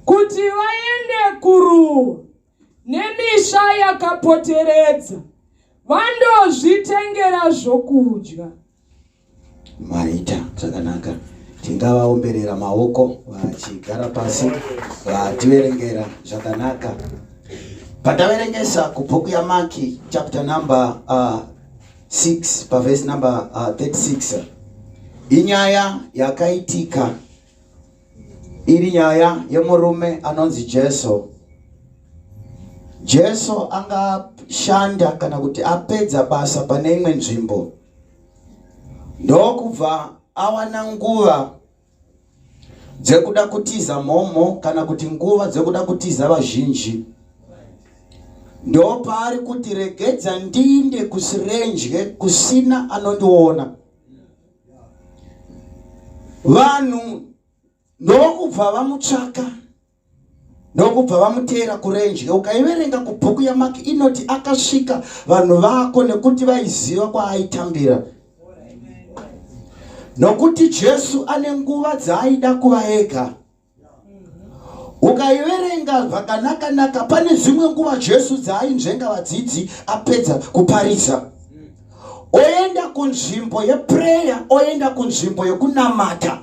kuti vaende kuruwa nemisha yakapoteredza vandozvitengera zvokudya maita zvakanaka tingavaomberera maoko vachigara pasi vativerengera zvakanaka pataverengesa kubhuku yamaki chapter number uh, 6 pavhesi number uh, 36 inyaya yakaitika iri nyaya yemurume anonzi jesu jesu angashanda kana kuti apedza basa pane imwe nzvimbo ndokubva awana nguva dzekuda kutiza mhomho kana kuti nguva dzekuda kutiza vazhinji ndopaari kuti regedza ndiinde kusirenje kusina anondiona vanhu ndokubva vamutsvaka ndokubva vamuteera kurenje ukaiverenga kubhuku yamak inoti akasvika vanhu vako nekuti vaiziva kwaaitambira nokuti jesu ane nguva dzaaida kuva ega ukaiverenga zvakanakanaka pane dzimwe nguva jesu dzaainzvenga vadzidzi apedza kuparidza oenda kunzvimbo yeprayer oenda kunzvimbo yekunamata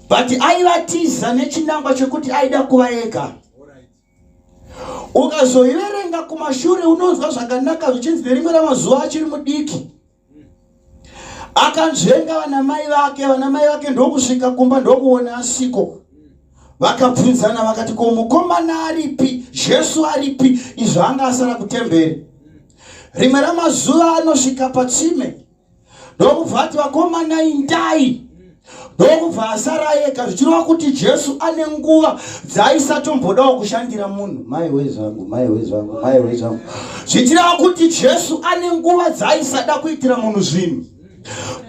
but aivatiza nechinangwa chekuti aida kuva ega ukazoiverenga kumashure unonzwa zvakanaka zvichinzi nerimwe ramazuva achiri mudiki akanzvenga vana mai vake vana mai vake ndokusvika kumba ndokuona asiko vakabvunzana vakati ko mukomana aripi jesu aripi izvo anga asara kutemberi rimwe ramazuva anosvika patsime ndokubva ati vakomana indai ndokubva asara ega zvichireva kuti jesu ane nguva dzaisatombodawo kushandira munhu maiwe zvangu maiwe zvangu maiwe zvangu zvichireva kuti jesu ane nguva dzaisada kuitira munhu zvinhu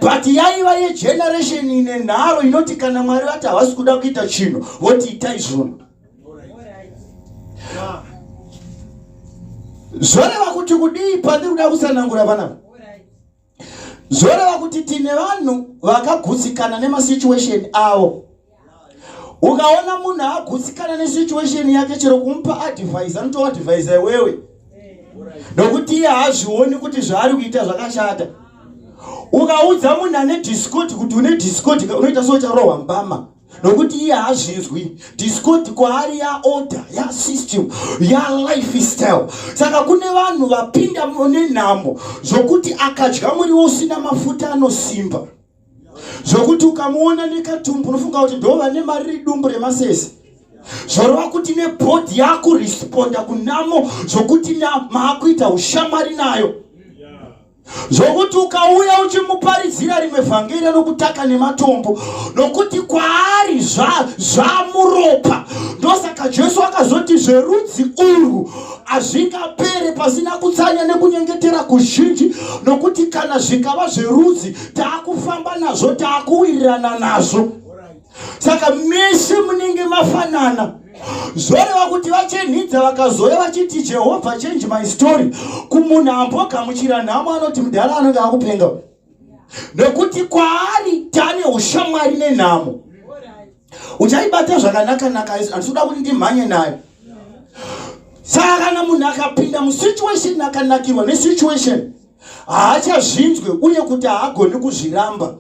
but yaiva yegeneration ine nharo inoti kana mwari vati havasi kuda kuita chinhu voti itai zvunhu zvoreva kuti kudii pandiri kuda kusanangura vanavo zvoreva kuti tine vanhu vakagutsikana nemasituation avo ukaona munhu agutsikana nesituation yake chero kumupa advise anotoadvise iwewe nokuti iye haazvioni kuti zvaari kuita zvakashata ukaudza munhu ane discoti kuti une discoti unoita so ucharohwa mbama nokuti iye hazvinzwi discord kwaari yaorder yasystem yalife style saka kune vanhu vapinda nenhamo zvokuti akadya muriwo usina mafuta anosimba zvokuti ukamuona nekatumbu unofunga kuti ndo vane mari ridumbu remasese zvorova kuti nebhodhi yakuresponda kunamo zvokuti maakuita ushamwari nayo zvokuti ukauya uchimuparidzira rimwe vhangeri anokutaka nematombo nokuti kwaari zvamuropa ndosaka jesu akazoti zverudzi urwu hazvingapere pasina kutsanya nekunyengetera kuzhinji nokuti kana zvikava zverudzi taakufamba nazvo taakuwirirana nazvo saka mese munenge mafanana zvoreva kuti vachenhidza vakazouya vachiti jehovha change my story kumunhu ambogamuchira nhamo anoti mudhara anenge akupenga nekuti kwaari tane ushamwari nenhamo uchaibata zvakanaka-naka handisuda kuti ndimhanye nayo saka kana munhu akapinda musituation akanakirwa nesituation haachazvinzwe uye kuti haagoni kuzviramba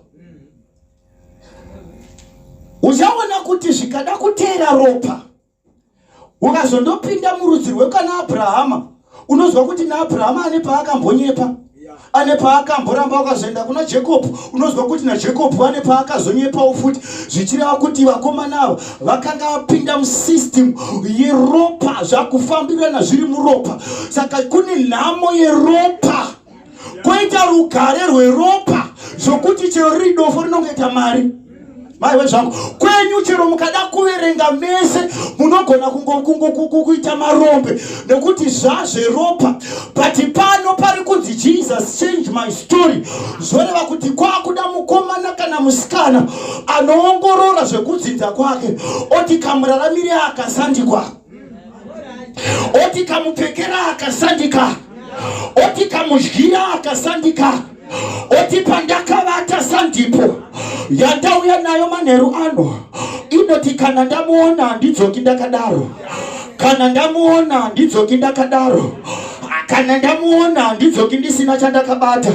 uchaona kuti zvikada kuteera ropa ukazondopinda murudzi rwekana abrahama unonzwa kuti naabrahama ane paakambonyepa ane paakamboramba ukazoenda kuna jacob unonzwa kuti najacob ane paakazonyepawo futi zvichireva kuti vakomana ava vakanga vapinda musystem yeropa zvakufambirana zviri muropa saka kune nhamo yeropa kwoita rugare rweropa zvokuti chero riri dofo rinongoita mari maiwe zvangu kwenyu chero mukada kuverenga mese munogona kuita marombe nekuti zvazveropa but pano pari kunzi jesus change my story zvoreva kuti kwakuda mukomana kana musikana anoongorora zvekudzinza kwake oti kamuraramire akasandikwa oti kamupfekera akasandika oti kamudyira akasandika oti pandakavata sandipo yandauya nayo manheru ano inoti kana ndamuona handidzoki ndakadaro kana ndamuona handidzoki ndakadaro kana ndamuona handidzoki ndisina chandakabata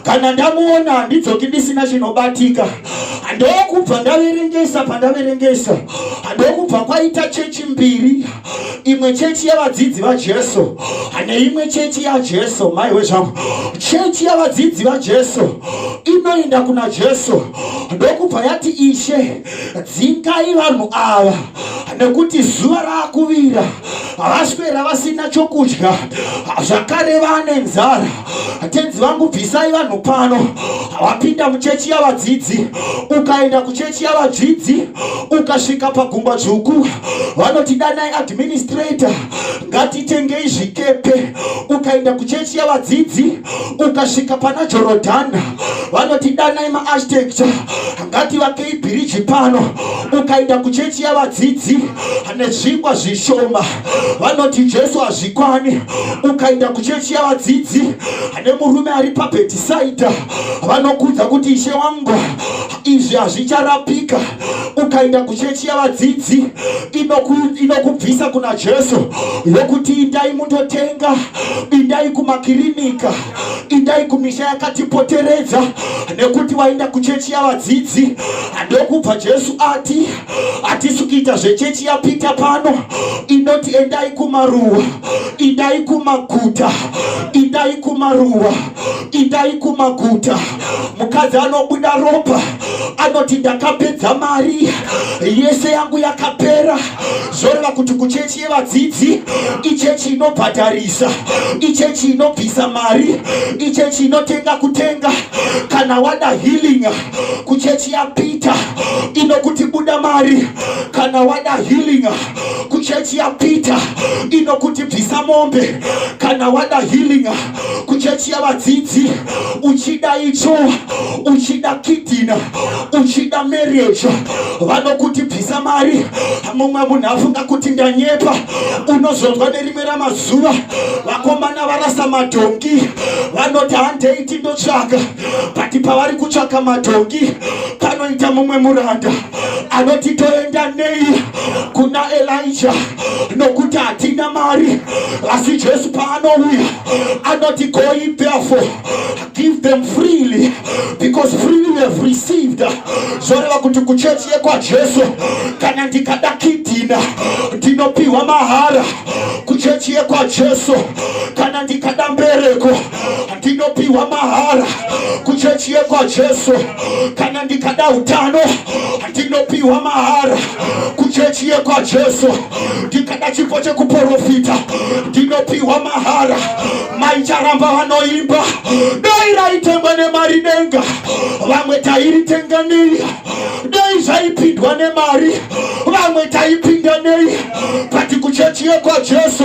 kana ndamuona handidzoki ndisina chinobatika ndokubva ndaverengesa pandaverengesa ndokubva kwaita chechi mbiri imwe chechi yavadzidzi vajesu neimwe chechi yajesu maiwe zvangu chechi yavadzidzi vajesu inoenda kuna jesu ndokubva yati ishe dzingai vanhu ava nekuti zuva raakuvira vaswera vasina chokudya zvakare vane nzara tenzi vangu bvisai vanhu pano wapinda muchechi yavadzidzi ukaenda kuchechi yavadzidzi ukasvika pagumba dzvuku vanoti danai administrator ngatitengei zvikepe ukaenda kuchechi yavadzidzi ukasvika pana jorodhana vanoti danai maarchitecture ngativakei bhiriji pano ukaenda kuchechi yavadzidzi nezvingwa zvishoma vanoti jesu hazvikwani ukaenda kuchechi yavadzidzi ane murume ari pabhetisaidha vanokudza kuti ishe wangu izvi hazvicharapika ukaenda kuchechi yavadzidzi inokubvisa ino kuna jesu yokuti indai mundotenga indai kumakirinika indai kumisha yakatipoteredza nekuti vaenda kuchechi yavadzidzi ndokubva jesu ati hatisi kuita zvechechi yapita pano inoti endai kumaruwa indai kumaguta indai kumaruwa indai kumaguta mukadzi anobuda ropa anoti ndakapedza mari yese yangu yakapera zvoreva kuti kuchechi yevadzidzi ichechi inobhadharisa ichechi inobvisa mari ichechi inotenga kutenga kana wada healing kuchechi yapeter inokuti buda mari kana wada healing kuchechi yapeter inokuti bvisa mombe kana wada healing kuchechi yavadzidzi uchida icho uchida kidina uchida marriage vanokuti bvisa mari mumwe munhu afunga kuti ndanyepa unozonzwa nerimwe ramazuva vakomana varasa madhongi vanoti handeiti ndotsvaga but pavari kutsvaka madhongi panoita mumwe muranda anoti toenda nei kuna elija nokuti hatina mari asi jesu paanouya anoti goi therefore give them freely because freely we have received zvoreva kuti kuchechi yekwajesu kana ndikada kidhina ndinopiwa mahara kuchechi yekwajesu kana ndikada mbereko ndinopiwa mahara kuchechi yekwajesu kana ndikada utano ndinopiwa mahara kuchechi yekwajesu ndikada chipo chekuprofita ndinopiwa mahara maicharamba vanoimba dai raitengwa nemari denga vamwe tairitenga nei dai zvaipindwa nemari vamwe taipinda nei but kuchechi yekwajesu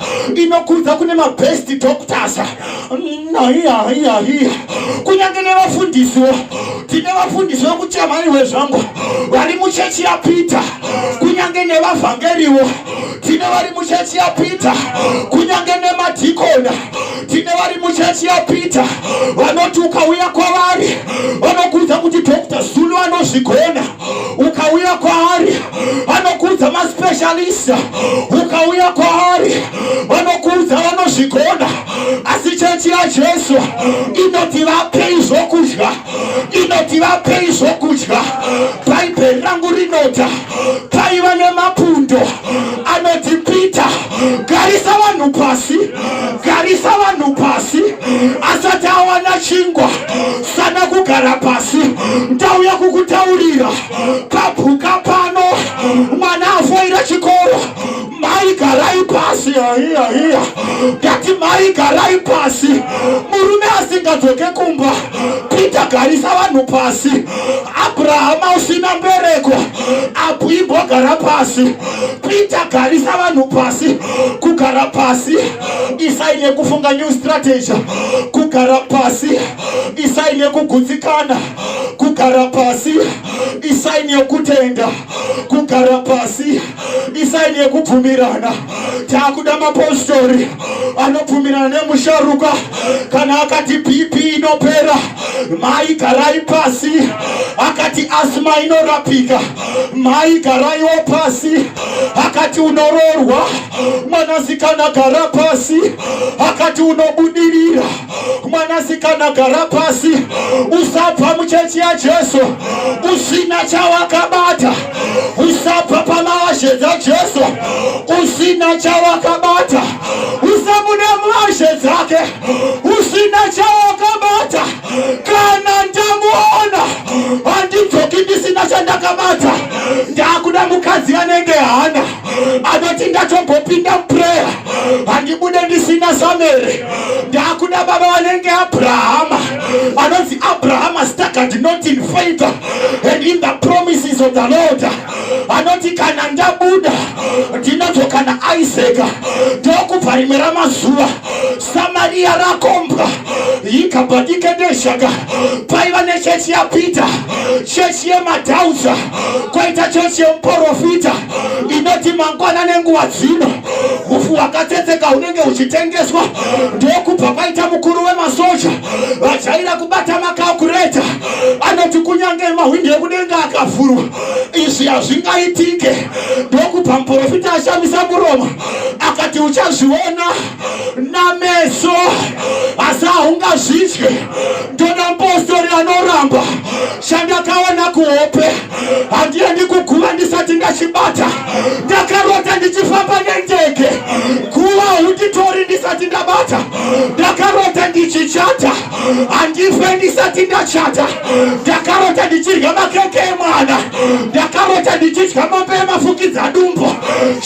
inokudza kune mabest doctors naiyaiyaiya kunyange nevafundisiwo tine vafundisi vekuchamhani wezvangu vari muchechi yapeter kunyange nevavhangeriwo tine vari muchechi yapeter kunyange nemadhikona tine vari muchechi yapeter vanoti ukauya kwavari vanokudza kuti dr zulu anozvigona ukauya kwaari anokuudza maspecialist ukauya kwaari vanokuudza vanozvigona asi chechi yajesu inoti vapei zvokudya inoti vapei zvokudya bhaibheri rangu rinota paiva nemapundo anoti pita garisa vanhu pasi garisa vanhu pasi asati awana chingwa sana kugara pasi ndauya kukutaurira kapuka pano mwana afoira chikoro mai garai pasi aiya aiya ndati mai garai pasi murume asingadzoke kumba pita garisa vanhu pasi abrahama usina mbereko apo imbogara pasi pita garisa vanhu pasi kugara pasi isai nekufunga new strategy kugara pasi isai nekugutsikana kugara pasi isai nekutenda kugara pasi isai nekubvumirana taakuda mapostori anobvumirana nemusharuka kana akati bp inopera mai garai pasi akati asma inorapika mai garaiwo pasi akati unoroorwa mwanasikana gara pasi akati unobudirira mwanasikana gara pasi usabva muchechi yajesu usina chawakabata usabva pamaashe dzajesu usina chawakabata usabude muashe dzake usina chawakabata kana ndamuona handidzoki ndisina chandakabata ndakuda mukadzi anenge hana anoti ndatombopinda muprayer handibude ndisina samere ndakuda baba vanenge abrahama anonzi abrahama staggered not in faith and in the promises of the lord anoti kana ndabuda ndinozokana isaac ndokubva rimwe ramazuva Samaria rakombwa ikabadika deshaka paiva nechechi yaPeter chechi yemadhauza kwaita chechi yemuporofita inoti mangwana nenguva dzino ufu wakatsetseka unenge uchitengeswa ndokubva kwaita mukuru wemasoja vajaira kubata makakureta anoti kunyange mahwindi ekudenga akavhurwa izvi hazvingaitike ndokubva muporofita ashamisa muromo akati uchazviona nameso asi haungazvidye ndoda mupostori anoramba chandakaona kuhope handiye ndikuguva ndisati ndachibata ndakarota ndichifamba nendege guva hunditori ndisati ndabata ndakarota ndichichata handife ndisati ndachata ndakarota ndichirya makeke emwana ndakarota ndichidya mombe yemafukidza dumbo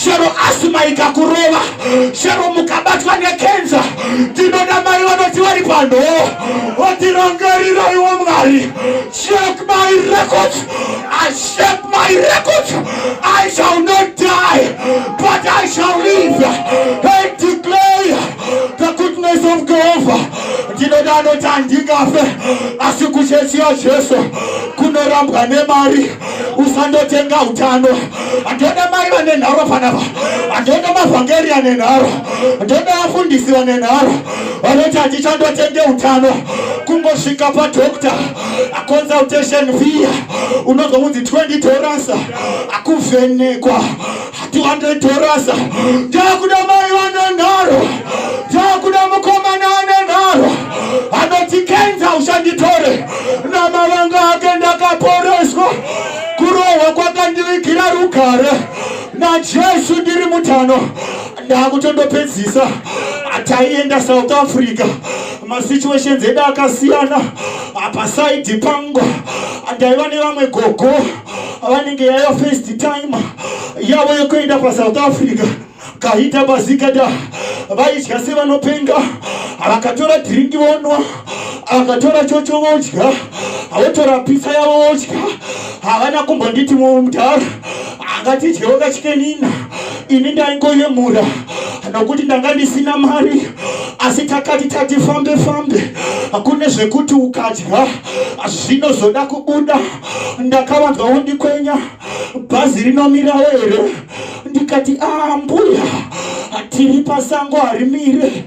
chero asima ikakurova chero mukabatwa nekenza ndinoda mai vanoti vari pano otirangariraiwo mwari check my records i check my records i shall not die but i shall live and declare the goodness of jehovah ndinoda anoti handingafe asi kuchechi yajesu kunorambwa nemari usandotenga utano andoda mai vane nharo panapa andoda mavhangeri ane nharo andoda vafundisi vane nharo vanoti hatichandotenge utano kungosvika padokta aconsultation via unozonzi 20 doransa akuvhenekwa Hatiwande torasa takuda mai vane nharo takuda mukomana ane nharo anoti kenza ushanditore namavanga ake ndakaporeswa kurohwa kwakandivigira rugare najesu ndiri mutano ndakutondopedzisa taienda south africa masituations edu akasiyana apa saidi pangu ndaiva nevamwe gogo vanenge yaya first time yavo yekuenda pasouth africa kahita bazikada vaidya sevanopenga vakatora dhiringi vonwa vakatora chocho vodya votora pisa yavo vodya havana kumbonditi mudhara angatidyewo kachikenina ini ndaingoyemura nokuti ndanga ndisina mari asi takati tatifambe fambe kune zvekuti ukadya zvinozoda kubuda ndakavanzwa wondikwenya bhazi rinomirawo here ndikati ah mbuya tiri pasango harimire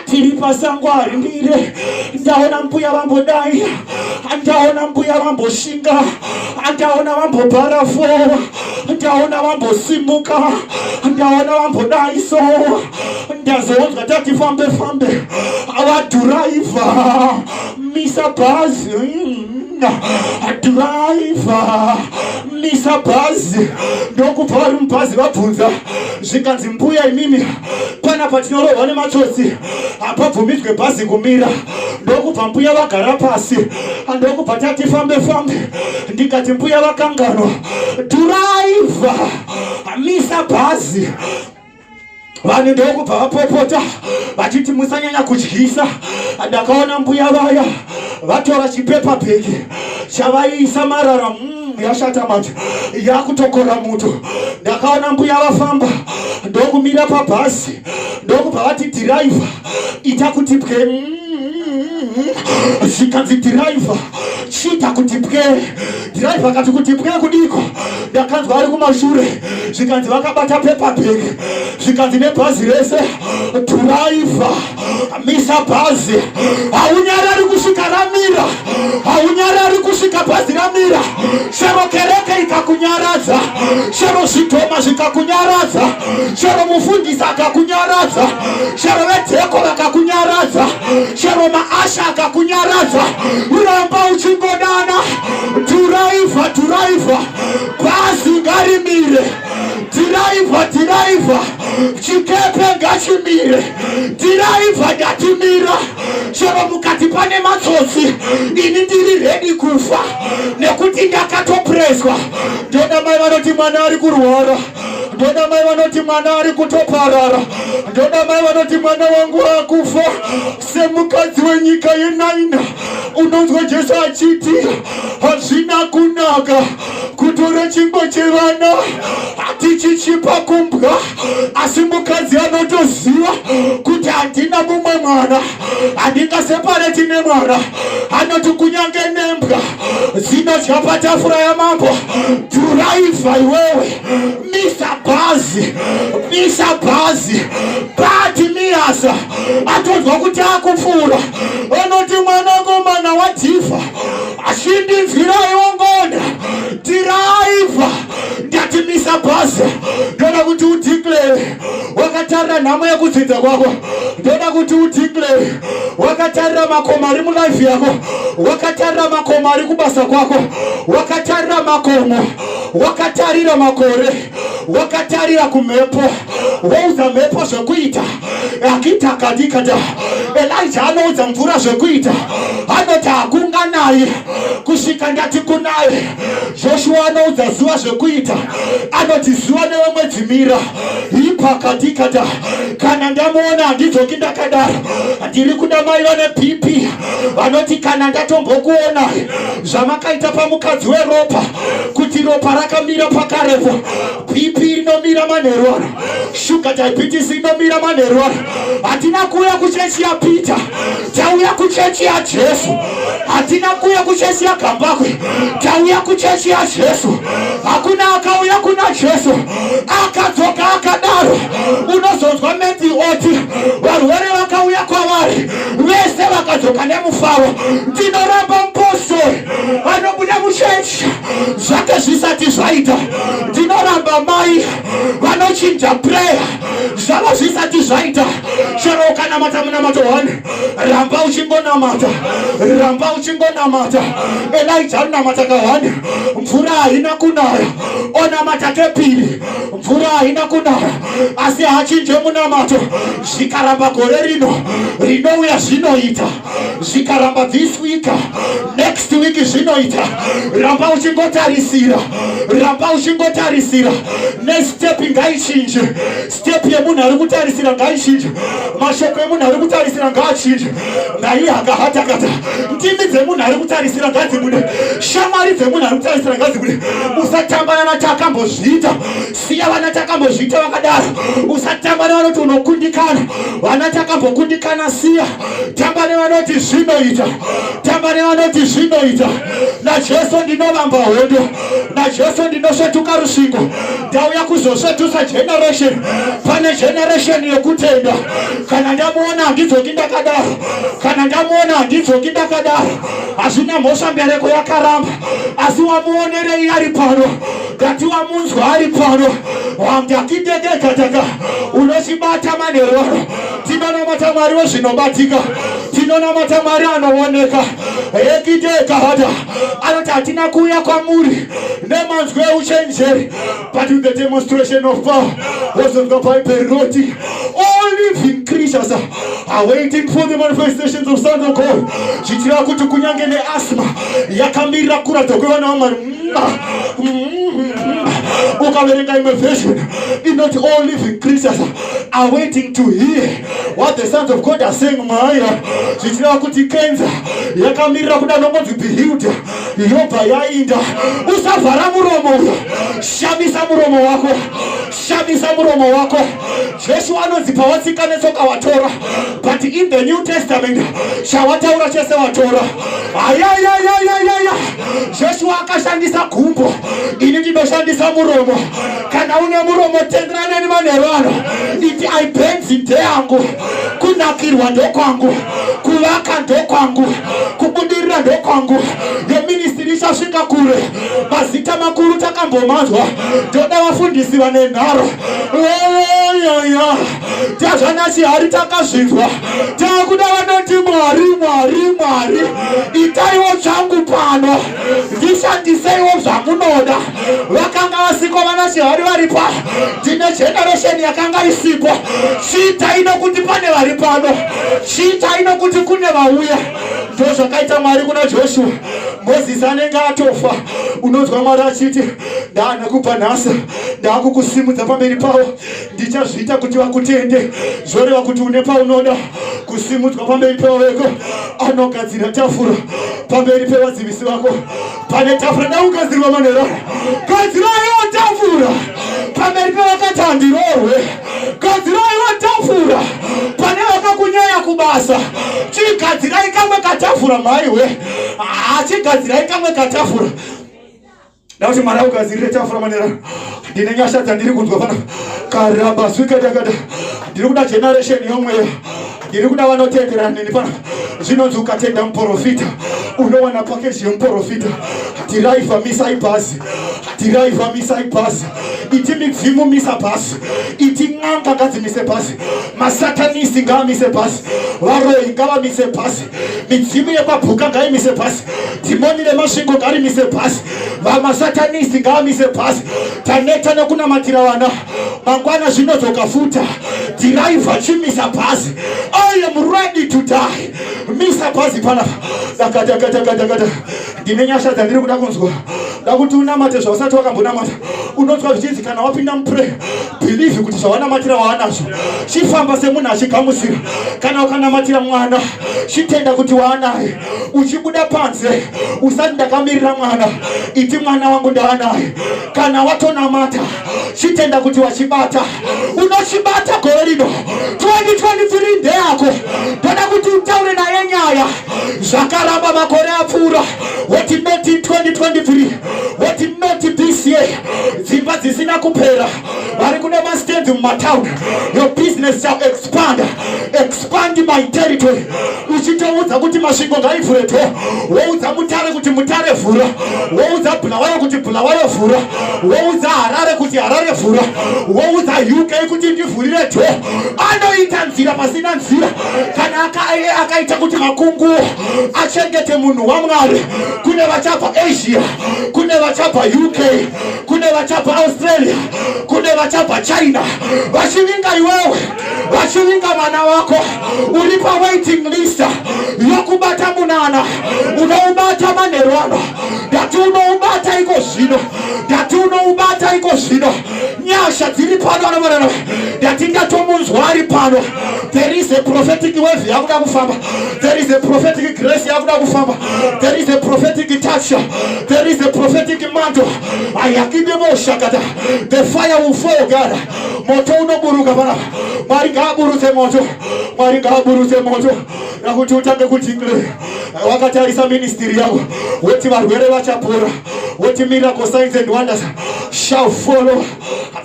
tiri pasango harimire ndaona mbuya vambodai ndaona mbuya vamboshinga ndaona vambobhara fo ndaona vambosimuka ndaona vambodai so ndazoonzwa tati fambe fambe vadhuraivha misa bhazi mm. driver misa bhazi ndokubva vari mubhazi vabvunza zvikanzi mbuya imimi kwana patinorohwa nematsotsi hapabvumidzwe bhazi kumira ndokubva mbuya vagara pasi ndokubva tati fambe fambe ndikati mbuya vakanganwa driver misa bhazi vanhu ndokubva vapopota vachiti musanyanya kudyisa ndakaona mbuya vaya vatora chipepa bheki chavaiisa marara mm, yashata manje yakutokora muto ndakaona mbuya vafamba ndokumira pabhasi ndokubva vati dhiraivha ita kuti pwe zvikanzi dhiraivha chiita kuti pwe dhiraivha akati kuti pwe kudiko ndakanzwa ari kumashure zvikanzi vakabata pepabhek zvikanzi nebhazi rese dhiraivha misa bhazi haunyarari kusvika ramira haunyarari kusvika bhazi ramira shero kereke ikakunyaradza shero zvidhoma zvikakunyaradza chero mufundisi akakunyaradza chero vedzeko vakakunyaradza chero maasha akakunyaradza uramba uchingodana dhiraivha dhiraivha bhazi ngarimire dhiraivha dhiraivha chikepe ngachimire dhiraivha ndatimira chero mukati pane matsotsi ini ndiri redi kufa nekuti ndakatopreswa ndoda mai vanoti mwana ari kurwara ndoda mai vanoti mwana ari kutoparara ndoda mai vanoti mwana wangu akufa semukadzi wenyika yenaina unonzwa jesu achiti hazvina kunaka kutora chingwa chevana hatichichipa kumbwa asi mukadzi anotoziva kuti handina mumwe mwana handingasepare tine mwana anoti kunyange nembwa dzinodya patafura yamambo dhuraivha iwewe misa bhazi misa bhazi bati miyasa atonzwa kuti akupfuura onoti mwanakomana wadhifa achindinzwiraiwo ngona dhiraivha ndati misa bhazi ndoda kuti udhiklere wakatarira nhamo yekudzinza kwako ndoda kuti udeclare wakatarira makomo ari mulife yako wakatarira makomo ari kubasa kwako wakatarira makomo wakatarira makore wakatarira kumhepo woudza mhepo zvekuita akita kadikada elija anoudza mvura zvekuita anoti hakunganaye kusvika ndati kunaye Joshua anoudza zuva zvekuita, anoti zuva newe mwedzi mira ipakati kata kana ndamuona handidzoki ndakadaro ndiri kuda mai vane bp vanoti kana ndatombokuona zvamakaita pamukadzi weropa kuti ropa rakamira pakarepo bp rinomira manheru ano shuga diabetes inomira manheru ano hatina kuuya kuchechi yapita Tauya kuchechi yaJesu, hatina kuuya kuchechi yaGambakwe. Tauya kuchechi yaJesu. Hakuna akauya kuna Jesu akadzoka akadaro. Unozonzwa mendzi oti varwere vakauya kwavari vese vakadzoka nemufaro. Ndinoramba mupostori vanobuda muchechi zvake zvisati zvaita. Ndinoramba mai vanochinja prayer zvava zvisati zvaita chero ukanamata munamato one ramba uchingonamata ramba uchingonamata elija anonamata kahani mvura haina kunaya onamata kepiri mvura haina kunaya asi hachinje munamato zvikaramba gore rino rinouya zvinoita zvikaramba this week next week zvinoita ramba uchingotarisira ramba uchingotarisira nestep ngaichinje step yemunhu ari kutarisira ngaichinje mashoko emunhu ari kutarisira ngaachinje naiye akahatakata ndimi dzemunhu ari kutarisira ngadzibude shamwari dzemunhu ari kutarisira ngadzibude usatambana natakambozviita siya vana takambozviita vakadaro usatambana vanoti unokundikana vana takambokundikana siya tamba nevanoti zvinoita tamba nevanoti zvinoita najesu ndinovamba hondo najesu ndinosvetuka rusvingo ndauya kuzosvetusa generation pane generation yekutenda kana ndamuona handidzoki ndakadaro kana ndamuona handidzoki ndakadaro hazvina mhosva mbereko yakaramba asi wamuonerei ari pano ndati wamunzwa ari pano wamdakidedekataka unochibata maneroro tinonamata mwari wezvinobatika tinonamata mwari anooneka ekidekahata anoti hatina kuuya kwamuri nemanzwi euchenjeri but with the demonstration of power was of the bible roti all living creatures are waiting for the manifestations of sons of god zvichireva kuti kunyange neasma yakamirira kuratidza kwevana vamwari ukaverenga imwe version inoti all living creatures are waiting to hear what the sons of God are saying maya zvichireva kuti kenza yakamirira kuda nongonzi bihilda yobva yainda usavhara muromo uyo shamisa muromo wako shamisa muromo wako jesu anonzi pawatsika netsoka watora but in the new testament chawataura chese watora ayayayayayaya jesu akashandisa gumbo ini ndinoshandisa muromo kana une muromo tendera neni manheru ano iti aibenzi ndeyangu kunakirwa ndokwangu kuvaka ndokwangu kubudirira ndokwangu neministiri ichasvika kure mazita makuru takambomanzwa ndoda vafundisi vane nharo yoyoyo tazvana chihari takazvinzwa takuda vanoti mwari mwari mwari itaiwo changu pano ndishandiseiwo zvamunoda vakanga vasiko vana chihari vari pano ndine generation yakanga isipo chiitai nokuti pane vari pano chiitai nokuti kune vauya ndo zvakaita mwari kuna joshua mozisi anenge atofa unonzwa mwari achiti ndaana kubva nhasi ndaakukusimudza pamberi pavo ndichazviita kuti vakutende zvoreva kuti une paunoda kusimudzwa pamberi pevaveko anogadzira tafura pamberi pevadzivisi vako pane tafura daugadzirwa manera gadziraiwo tafura pamberi pevakatandirorwe gadziraiwo tafura pane vakakunyaya kubasa chigadzirai kamwe katafura mhaiwe hachigadzirai kamwe katafura Ndauti mwana ugadzirire tafura manera. Ndine nyasha dzandiri kunzwa pana. Karamba swika dakada. Ndiri kuda generation yomweya. Ndiri kuda vanotendera nini pana. Zvinonzi ukatenda muporofita unowana pakeji yemuporofita. Tirai famisa ibhazi. Tirai famisa ibhazi. Iti midzimu misa bhazi. Iti n'anga ngadzimise bhazi. Masatanisi ngaamise bhazi. Varoyi ngavamise bhazi. midzimu yekwapuka ngaimise pasi dhimoni remasvingo ngarimise pasi vamasatanisti ngaamise pasi taneta nekunamatira vana mangwana zvinodzoka futa dhiraivha chimisa pasi i am ready to die misa pasi panapa dakadakadakadakada ndine nyasha dzandiri kuda kunzwa ndakuti unamate zvausati wakambonamata unonzwa zvichinzi kana wapinda muprayer bhilivhi kuti zvawanamatira waanazvo chifamba semunhu achigamuchira kana ukanamatira mwana chitenda kuti waanaye uchibuda panze usati ndakamirira mwana iti mwana wangu ndaanaye kana watonamata chitenda kuti wachibata unochibata gore rino 2023 ndeyako ndoda kuti utaure naye nyaya zvakaramba makore apfuura woti not in 2023 woti not this year dzimba dzisina kupera vari kune mastands mumatown your business shall expand expand my territory uchitoudza kuti masvingo ngaivhure to woudza mutare kuti mutare vhura woudza bulawayo kuti bulawayo vhura woudza harare kuti harare vhura woudza uk kuti ndivhurire to anoita nzira pasina nzira kana akaita kuti makungu achengete munhu wamwari kune vachabva asia kune vachabva uk kune vachabva australia kune vachabva china vachivinga iwewe vachivinga mwana wako uri pawaiting list yokubata munana unoubata manherwano ndati unoubata iko zvino ndati unoubata iko zvino nyasha dziri pano anovarana ndatingatomunzwa ari pano there is a prophetic wave yakuda kufamba there is a prophetic grace yakuda kufamba there is a prophetic touch there is a prophetic mantle ayakideboshakata the fire will fall god moto unoburuka panapa mwari ngaaburutse moto mwari ngaaburutse moto nakuti utange kutingle wakatarisa ministry yavo woti varwere vachapora woti miracle signs and wonders shall follow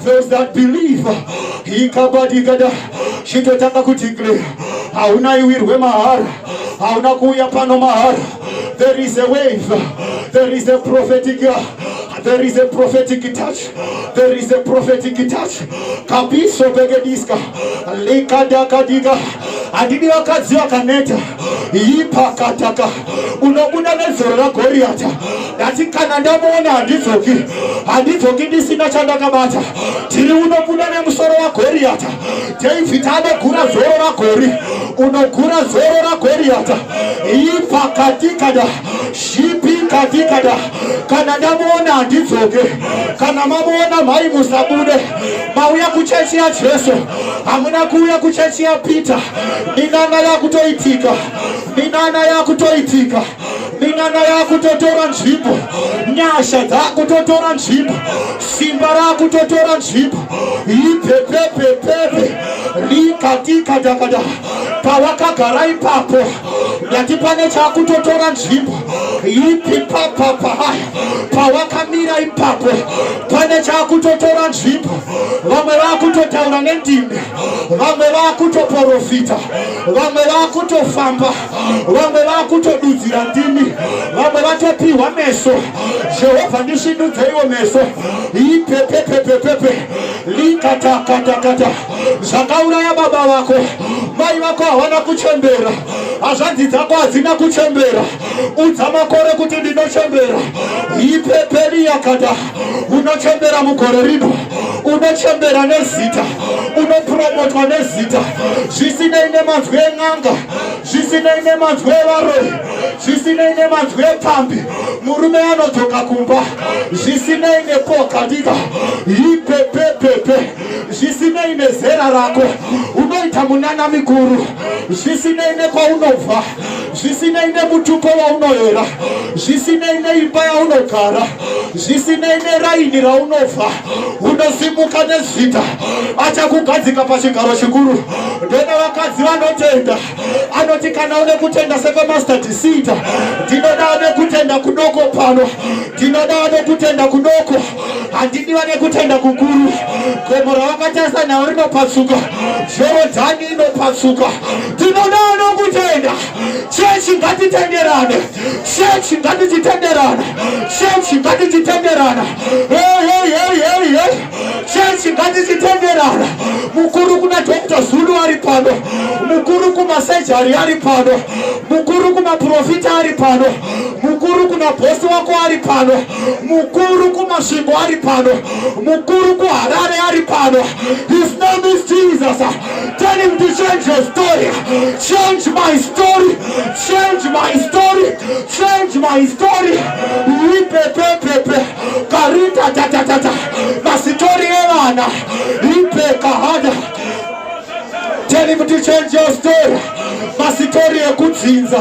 those that believe ikabadikada chitotanga kudeclare hauna iwirwe mahara hauna kuuya pano mahara there is a wave there is a prophetic there is a prophetic touch there is a prophetic touch kabiso begediska likadakadika handidi vakadzi vakaneta ipakataka unobuda nezoro ragoriyata ndati kana ndamuona handidzoki handidzoki ndisina chandakabata tiri unobuda nemusoro wagoriyata david anogura zoro ragori unogura zoro ragoriyata ipakatikada zvipikapikata kana ndamuona handidzoke kana mamuona mhai musabude mauya kuchechi yajesu hamuna kuuya kuchechi yapeter minana yakutoitika minana yakutoitika minana yakutotora nzvimbo nyasha dzakutotora nzvimbo simba rakutotora nzvimbo ipepepepepe rikatikadakada pawakagara ipapo ndati pane chakutotora nzvimbo ipi papapa haya pawakamira ipapo pane chakutotora nzvimbo vamwe vakutotaura nendimi vamwe vakutoporofita vamwe vakutofamba vamwe vakutodudzira ndimi vamwe vatopiwa meso jehovha ndisvinudzeiwo meso ipepepepepepe likatakatakata zvakauraya baba vako mai vako havana kuchembera hazvanzi dzako hadzina kuchembera udza makore kuti ndinochembera ipeperi yakada unochembera mugore rino unochembera nezita unopromotwa nezita zvisinei nemanzwi en'anga zvisinei nemanzwi evaroyi zvisinei nemanzwi epfambi murume anodzoka kumba zvisinei nepoka ndika ipepepepe zvisinei nezera rako unoita munana mikuru zvisinei nekwaunobva zvisinei nemutupo waunoera zvisinei neimba yaunogara zvisinei neraini raunobva unosimuka nezita achakugadzika pachigaro chikuru ndona vakadzi vanotenda anoti kana une kutenda sekwemaster disita ndinoda ane kutenda kudoko pano ndinoda ane kutenda kudoko handidi vane kutenda kukuru gomo ravakatarisa nhau rinopasuka zvero dzani inopasuka tinoda vanokutenda chechi ngatitenderane chechi ngatichitenderana chechi ngatichitenderana chechi ngatichitenderana mukuru kuna dr zulu ari pano mukuru kumasejari ari pano mukuru kumaprofita ari pano mukuru kuna bhosi wako ari pano mukuru kumasvingo ari pano mukuru kuharare ari pano his name is jesus tell him to change your story change my story change my story change my story ipepepepe karita tatatata masitori evana ipekahada tell him to change your story masitori ekudzinza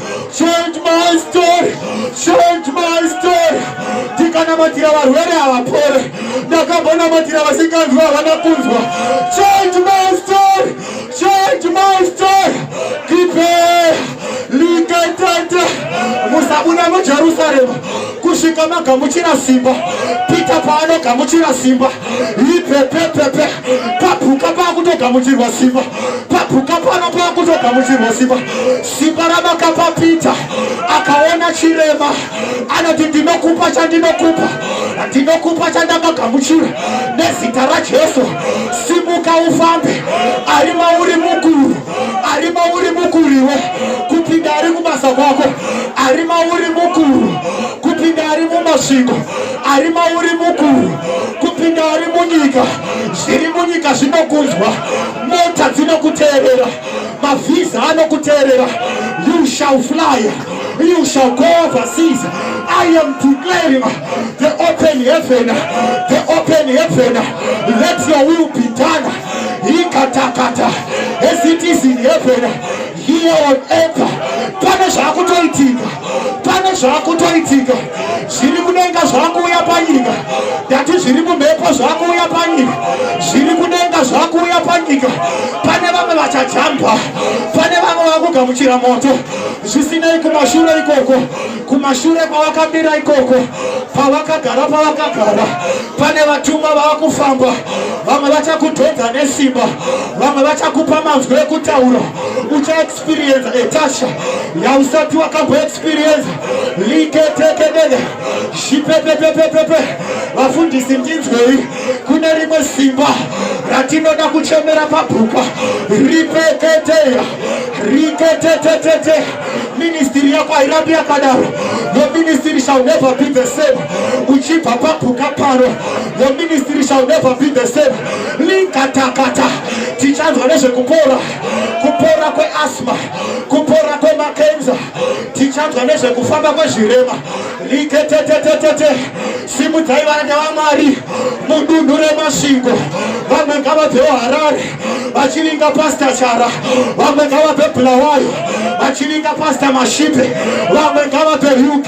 Change my story, change my story. Ndikanamatira varwere havapore, ndakambanamatira vasinganzwa havana kunzwa. Change my story, change my story. Kipe likatata musabuda muJerusarema kusvika magamuchira simba. Pita paanogamuchira simba, ipepepepe papuka pakutogamuchirwa simba, papuka pano pakutogamuchirwa simba. Simba ramakapapita akaona chirema anoti ndinokupa chandinokupa ndinokupa chandakagamuchira nezita rajesu simuka ufambe ari mauri mukuru ari mauri mukuriwe kupinda ari kubasa kwako ari mauri mukuru kupinda ari mumasviko ari mauri mukuru kupinda ari munyika zviri munyika zvinokunzwa mota dzinokuteerera mavhiza anokuteerera you shall fly you shall go overseas i am declaring the open heaven the open heaven let your will be done ikatakata as it is in heaven here on earth pane zvakutoitika pane zvakutoitika zviri kudenga zvakuuya panyika ndati zviri mumhepo zvakuuya panyika zviri kudenga zvakuuya panyika pane vamwe vachajamba pane vamwe vakugamuchira moto zvisinei kumashure ikoko kumashure kwavakamira ikoko pavakagara pavakagara pane vatumwa vava kufamba vamwe vachakudhodza nesimba vamwe vachakupa manzwi ekutaura ucha experience etasha yausati wakambo experience liketekedede zvipepepepepepe vafundisi ndinzwei kune rimwe simba ratinoda kuchemera pabhuka ripeketeya riketetetete ministiri yako hairambi yakadaro your ministry shall never be the same uchibva pabhuka pano your ministry shall never be the same linkatakata tichanzwa nezvekupora kupora kweasma kupora kwemakenza tichanzwa nezvekufamba kwezvirema liketetetetete simudzai varanda vamwari mudunhu remasvingo vamwe ngavabvewo harare vachivinga pasta chara vamwe ngavabve bulawayo vachivinga pasta mashipe vamwe ngavabve uk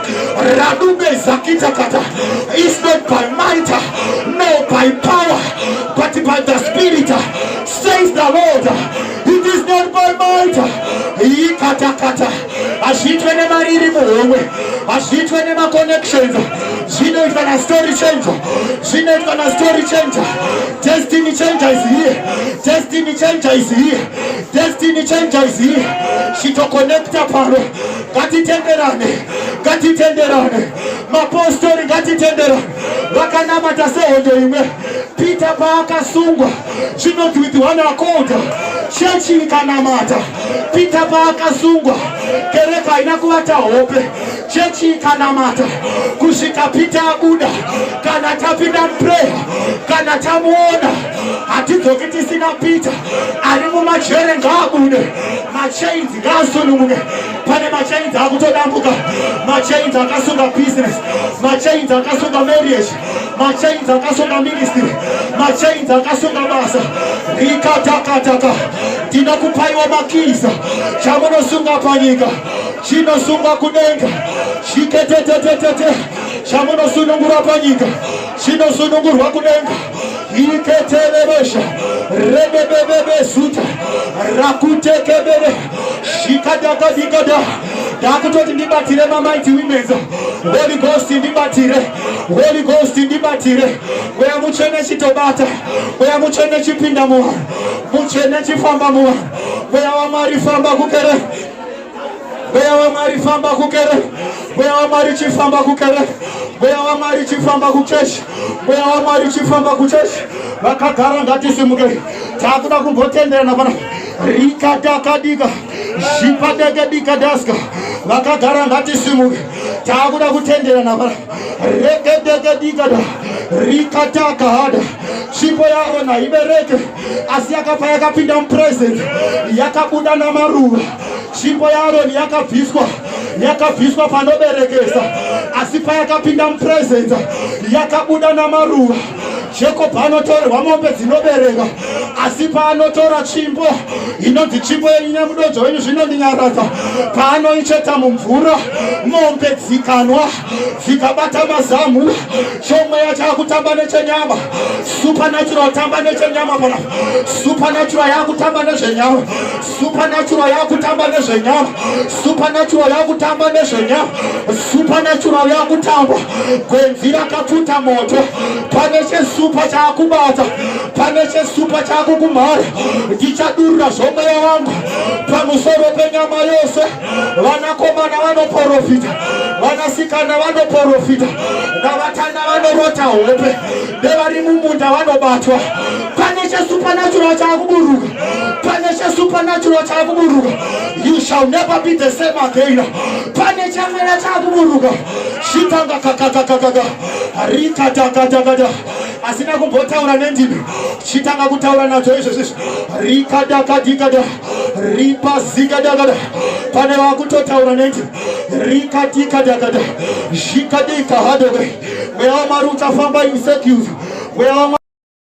Radube Zakitakata is not by might nor by power, but by the Spirit, says the Lord. It is not by might. Ikatakata hazviitwe nemari iri muhomwe, hazviitwe nemaconnections, zvinoitwa na story changer, zvinoitwa na story changer. Destiny changer is here, destiny changer is here, destiny changer is here. Chitoconnecta paro ngatitenderane ngatitenderane mapostori ngatitenderane vakanamata sehondo imwe pita paakasungwa zvinonzi with one accord chechi ikanamata pita paakasungwa kereka haina kuvata hope chechi ikanamata kusvika pita abuda kana tapinda mupreya kana tamuona hatidzoki tisina pita ari mumajere ngaabude machains ngaasununguke pane machains akutodambuka machains akasunga business machains akasunga marriage machains akasunga ministry machains akasunga basa rikatakataka ndina kupaiwa makiza chamunosunga panyika chinosungwa kudenga chiketetetetete chamunosunungura panyika chinosunungurwa kudenga iketerebosha rebebebebesuta rakutekebere shikadakadikada ndakutoti ndibatire mamighty womens holy ghost ndibatire holy ghost ndibatire mweya mutsvene chitobata mweya mutsvene chipinda muvanhu mutsvene chifamba muvanhu mweya wamwari famba kukere Mweya waMwari famba kukereke. Mweya waMwari chifamba kukereke. Mweya waMwari chifamba kuchechi. Mweya waMwari chifamba kuchechi. Vakagara ngatisimuke. Takuda kumbotenderana pana rikadakadika zvipadekadikadaska vakagara ngatisimuke takuda kutenderana pana rekedekadikada rikatakahada chipo yavo naibereke asi yakabva yakapinda mupresence yakabuda namaruva tsvimbo yaaroni yakabviswa yakabviswa panoberekesa asi payakapinda mupresence yakabuda namaruva jacob anotorerwa mombe dzinobereka asi paanotora tsvimbo inonzi tsvimbo yenyu nemudodzo wenyu zvinondinyaradza paanoicheta mumvura mombe dzikanwa dzikabata mazamu chomweya chakutamba nechenyama supernatural tamba nechenyama pana supernatural yakutamba nezvenyama supernatural yakutamba nezvenyama supernatural yakutamba nezvenyama supernatural yakutamba gwenzi rakapfuta moto pane chesupa chakubata pane chesupa chakukumhara ndichadurura zvomweya wangu pamusoro penyama yose vanakomana vanoporofita vanasikana vanoporofita navatana vanorota hope nevari mumunda vanobatwa pane chesupanatural chaakuburuka pane chesupanatural chaakuburuka you shall never be the same again pane chamwena chaakuburuka shitanga kakakakakaka rikatakatakata asina kumbotaura nendimi chitanga kutaura nadzo izvezvi rikadakadikada ripa zika dakada pane vakutotaura neti rikatika dakada zvikadika hadoke mweya wamwari uchafamba in circles mweya